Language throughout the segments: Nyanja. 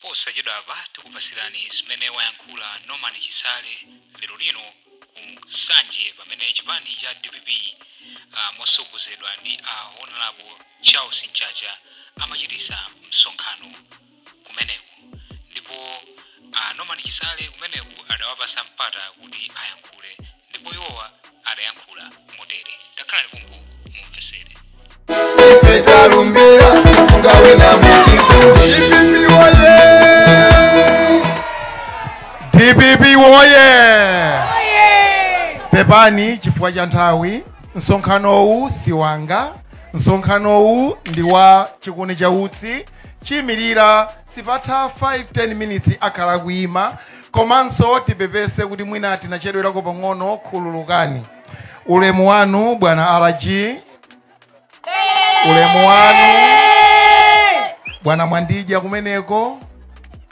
Posachedwapa tikupatsirani zimene wayankhula Norman Chisale lero lino ku Nsanje pamene chipani cha dpp ah, motsogozedwa ndi a Honorable Charles Mchacha amachititsa msonkhano kumeneko ndipo a Norman Chisale kumeneko adawapatsa mpata kuti ayankhule. Ndipo iwowa adayankhula motere, takhalani pompo mumvetsere. etalumbira ngawe na mukifuipipi woye dpp woye pepani chifukwa cha nthawi msonkhanowu si wanga msonkhanowu ndi wa chikuni cha utsi choyimirira sipatha 5-10 minutes akhala akuyima komanso tipepese kuti mwina tinachedwerako pang'ono khululukani ulemu wanu bwana rg ulemu wanu bwana mwandija kumeneko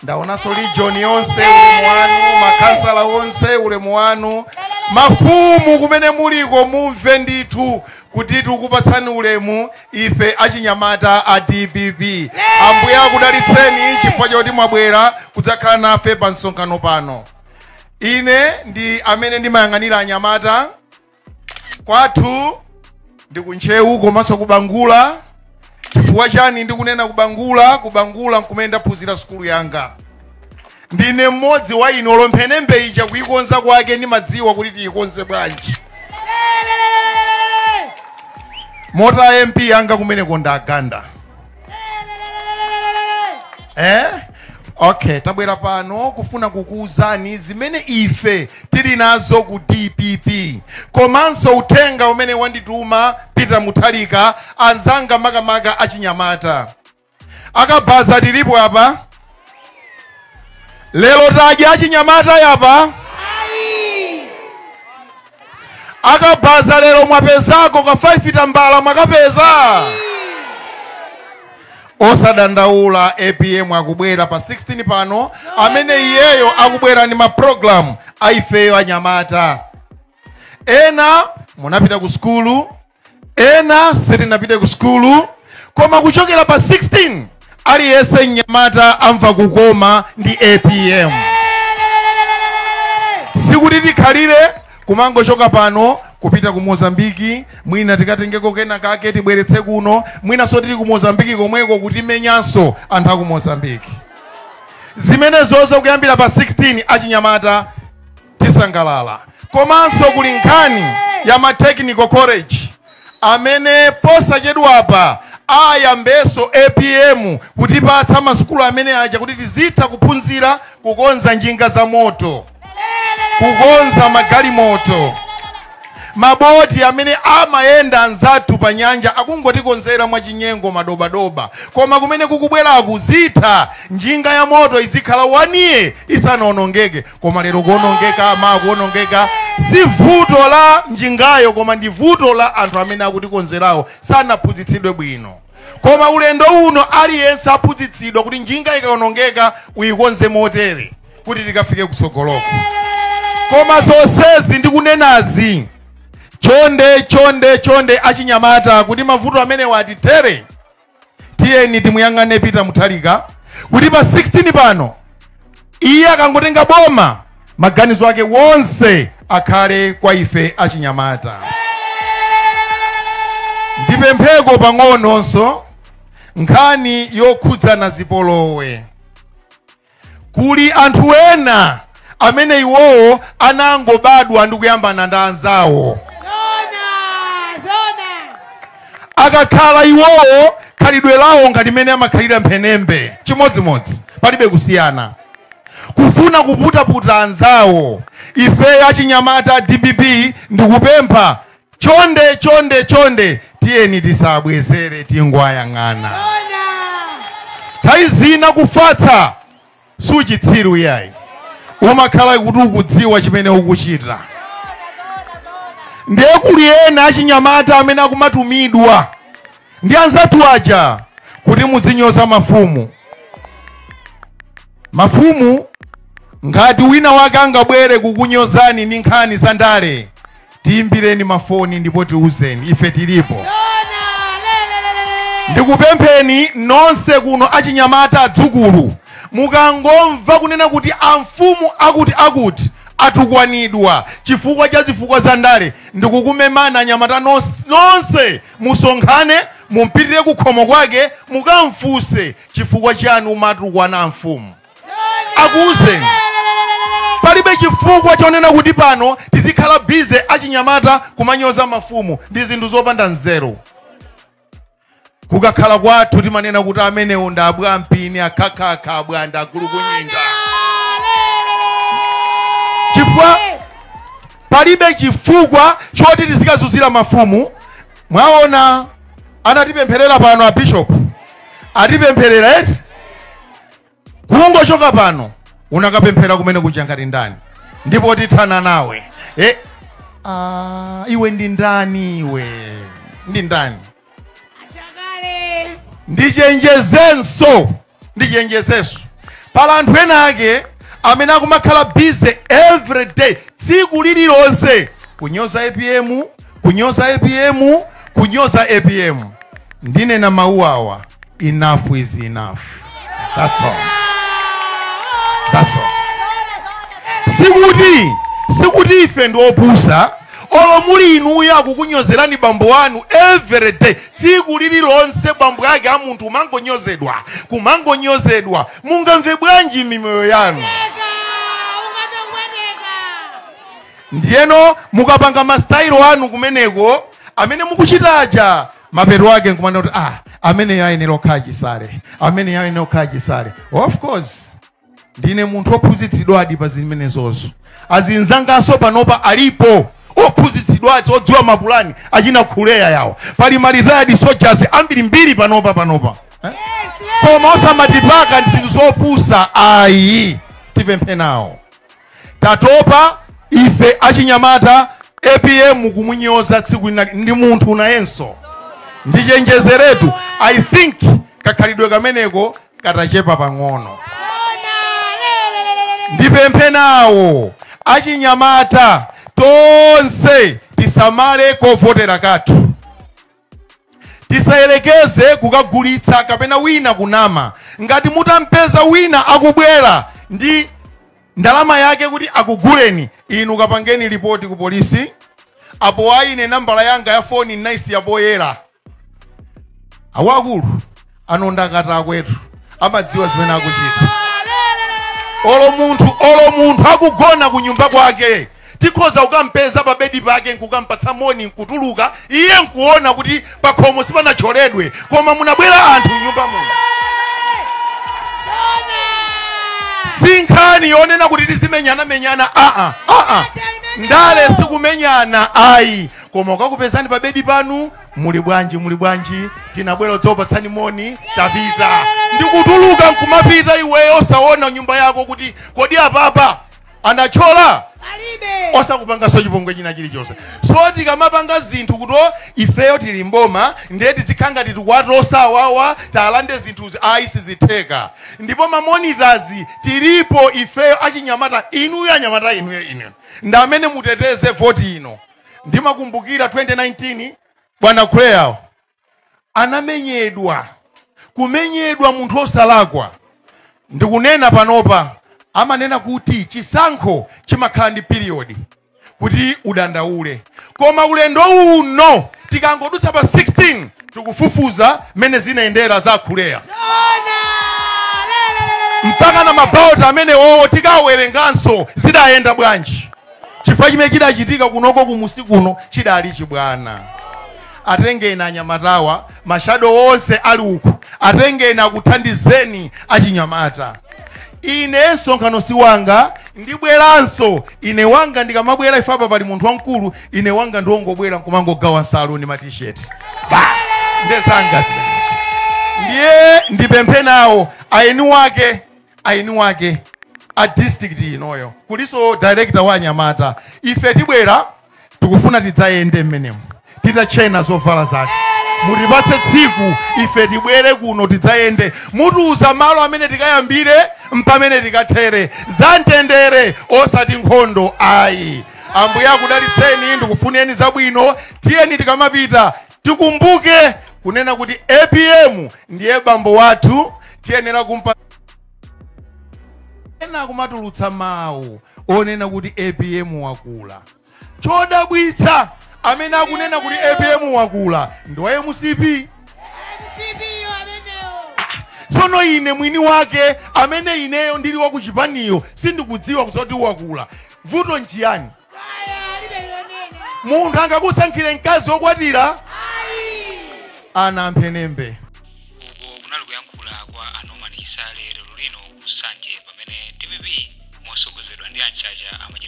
ndaonanso region yonse ulemu wanu makansala wonse ulemu wanu mafumu kumene muliko mumve ndithu kuti tikukupatsani ulemu Ife achinyamata a dpp Ambuye akudalitseni chifukwa choti mwabwera kudzakhala nafe pa msonkhano pano. Ine ndi amene ndimayang'anira anyamata kwathu ndi ku Ntcheu komanso ku Bangula. Chifukwa chani ndikunena ku Bangula? Ku Bangula nkumene ndaphunzira sukulu yanga. Ndine mmodzi wa ino olo mphenembe ija kuikonza kwake ndimadziwa kuti tiikonze bwanji. Moti a MP anga kumeneko ndi a Ganda. Eh? Okay, tabwera pano kufuna kukuwuzani zimene ife tili nazo ku DPP komanso uthenga umene wandituma Peter Mutharika anzanga makamaka achinyamata. akabaza tilipo apa lero tadya achinyamata apa akabaza lero mwapezako ka 5 tambala mwakapeza osadandaula apm akubwera pa 16 pano amene iyeyo akubwera ndi maprogramu aifeyo anyamata ena munapita ku sukulu ena sitinapite ku sukulu koma kuchokera pa 16 aliyense mnyamata amva kukoma ndi apm sikuti tikhalire kumangochoka pano kupita ku mozambiki mwina tikatengeko kena kake tibweretse kuno mwinanso tili ku mozambiki komweko kutimenyanso anthu aku mozambiki zimenezozo kuyambira pa 16 achinyamata tisangalala komanso kuli nkhani ya ma technical college amene posachedwapa ayambenso apm kutipatsa masukulu amene aja kuti tizitha kuphunzira kukonza njinga za moto kukonza magalimoto maboti amene amayenda anzathu pa nyanja akungotikonzera mwachinyengo madobadoba koma kumene kukubweraku izitha njinga ya moto idzikhala wani yiya isanaonongeke koma lero kuonongeka koma kuonongeka si vuto la njingayo koma ndi vuto la anthu amene akutikonzerawo sanaphunzitsidwe bwino koma ulendo uno aliyense aphunzitsidwa kuti njinga ikaonongeka uyikonze motere kuti tikafike kutsogoloko koma zonsezi ndikunenazi chonde chonde chonde achinyamata kuti mavuto amenewa atithere tiyeni timuyang'ane peter mutharika kuti pa 16 pano iye akangotenga boma maganizo ake wonse akhale kwa ife achinyamata ndipempheko pang'ononso nkhani yokhudzana zipolowe kuli anthu ena amene iwowo anangobadwa ndi kuyambana ndi anzawo akakhala iwowo khalidwe lawo ngati mene amakhalira mphenembe chimodzimodzi palibe kusiyana kufuna kuputaputa anzawo ifeyo achinyamata a dpp ndikupempha Chonde chonde chonde, tiyeni tisabwezere, tingowayang'ana nthawi zina kufatsa si uchitsiru iyayi umakhala kuti ukudziwa chimene ukuchita ndiye kuli ena achinyamata amene akumatumidwa ndi anzathu aja kuti mudzinyoza mafumu mafumu ngati wina wake angabwere kukunyozani ndi nkhani za ndale tiimbireni mafoni ndipo tiuzeni ife tilipo ndikupempheni nonse kuno achinyamata adzukulu mukangomva kunena kuti amfumu akuti akuti atukwanidwa chifukwa cha zifukwa za ndale ndikumemana anyamata nonse musonkhane mumpitire kukhomo kwake mukamfunse chifukwa chiyani umatukwana amfumu akuuzeni palibe chifukwa chonena kuti pano tizikhala bize achinyamata kumanyoza mafumu ndi zinthu zopanda nzeru kukakhala kwathu timanena kuti amenewo ndi abwampini akhakhakha abwanda agulukunyinga chifukwa palibe chifukwa choti tizikazuzira mafumu mwaona anatipempherera pano a bishop atipempherera eti kungochoka pano unakapemphera kumene kuja ngati ndani ndipo tithana nawe e, a, iwe ndi ndani iwe ndi ndani ndichenjezenso ndichenjezenso pali anthu ena ake amene akumakhala busy every day tsiku lililonse kunyoza apm kunyoza apm kunyoza apm ndinena mawu awa enough is enough that's all that's all sikuti sikuti ife ndi opusa olo muli inuyo akukunyozerani bambo wanu every day tsiku lililonse bambo yake a munthu kumangonyozedwa kumangonyozedwa mungamve bwanji mimoyo yanu Ndiyeno mukapanga ma style anu kumeneko amene mukuchita aja, mapeto ake nkumanena kuti ah, ameneyo ayenera kukhala Chisale, ameneyo ayenera kukhala Chisale. Of course ndine munthu ophunzitsidwadi pa zimenezozo. Azinzanganso panopa alipo ophunzitsidwa odziwa mapulani achina khuleya yawo, pali ma retired soldiers ambirimbiri panopa panopa eh? koma osamatipaka ndi zinthu zopusa ayi tipemphe nawo tatopa ife achinyamata apm mukumunyoza tsiku ndi munthu nayenso ndichenjezeretu i think kakhalidwe kameneko katachepa pang'ono ndipemphe nawo achinyamata tonse tisamale kovotera kathu Tisayelekeze kukagulitsa kapena wina kunama. Ngati mutampeza wina akubwela ndi Ndalama yake kuti akuguleni inu kapangeni lipoti ku polisi. Apo ayi ine nambala yanga ya foni ndinaisiya poyela. Akuluakulu ano ndi akatakwetu amadziwa zimene akuchita olo munthu olo munthu akugona ku nyumba kwake tikhoza kukampeza pa bedi pake nkukampatsa moni nkutuluka iye nkuona kuti pakhomo sipanatcholedwe koma munabwera anthu m'nyumba muno si nkhani yonena kuti tizimenyanamenyana aa aa ndale sikumenyana ayi koma ukakupezani pa bedi panu muli bwanji muli bwanji tinabwera kudzakupatsani moni tapita ndikutuluka nkumapita iweyo osaona nyumba yako kuti kodi apapa anatchola osakupanganso chipongwe china chilichonse so tikamapanga zinthu kuti o, ifeyo tili mboma ndiye tizikhala ngati tikuwasowa awa tilande zinthuzi ayi sizitheka ndipo mamonitazi tilipo ifeyo achinyamata inuyo anyamata inuyo inuyo ndi amene muteteze voti ino ndimakumbukira 2019 bwana Kuleya anamenyedwa kumenyedwa munthu osalakwa ndikunena panopa amanena kuti chisankho chimakhala ndi period kuti udandaule koma ulendo uno tikangodutsa pa 16 tikufufuza mmene zinayendera za a Kuleya mpaka na mabaloti amene wowo tikawerenganso zidayenda bwanji chifukwa chimene chidachitika kunoko kumunsi kuno chidali chibwana atengeni anyamatawa mashado onse ali uku atengeni akuthandizeni achinyamata ine msonkhano si wanga ndibweranso ine wanga ndikamabwera ife apa pali munthu wamkulu ine wanga ndiwongobwera nkumangogawa nsalu ndi matisheti basi ndezanga zimenezo ndiye ndipemphe nawo aeni wake aeni wake a district inoyo kulinso director wa anyamata ife tibwera tikufuna tidzayende mmenemo titatchena zovala zake mutipatse tsiku ife tibwere kuno tidzayende mutiuza malo amene tikayambire mpamene tikathere za mtendere osati nkhondo ayi ambuye akudalitseni ndikufuneni zabwino tiyeni tikamapita tikumbuke kunena kuti apm ndiye bambo wathu tiyenera kumpa ena akumatulutsa mawu onena kuti apm wakula chodabwitsa amene akunena kuti apm wakula ndi wa MCP tsono ine mwini wake amene ineyo ndili wa kuchipaniko sindikudziwa nkusoti wakula vuto nchiyani munthu angakusankhire mkazi wokwatira ana amphenembe uko kunali kuyankhula kwa a Norman Chisale lero lino ku Nsanje pamene dpp motsogozedwa ndi a Mchacha amachititsa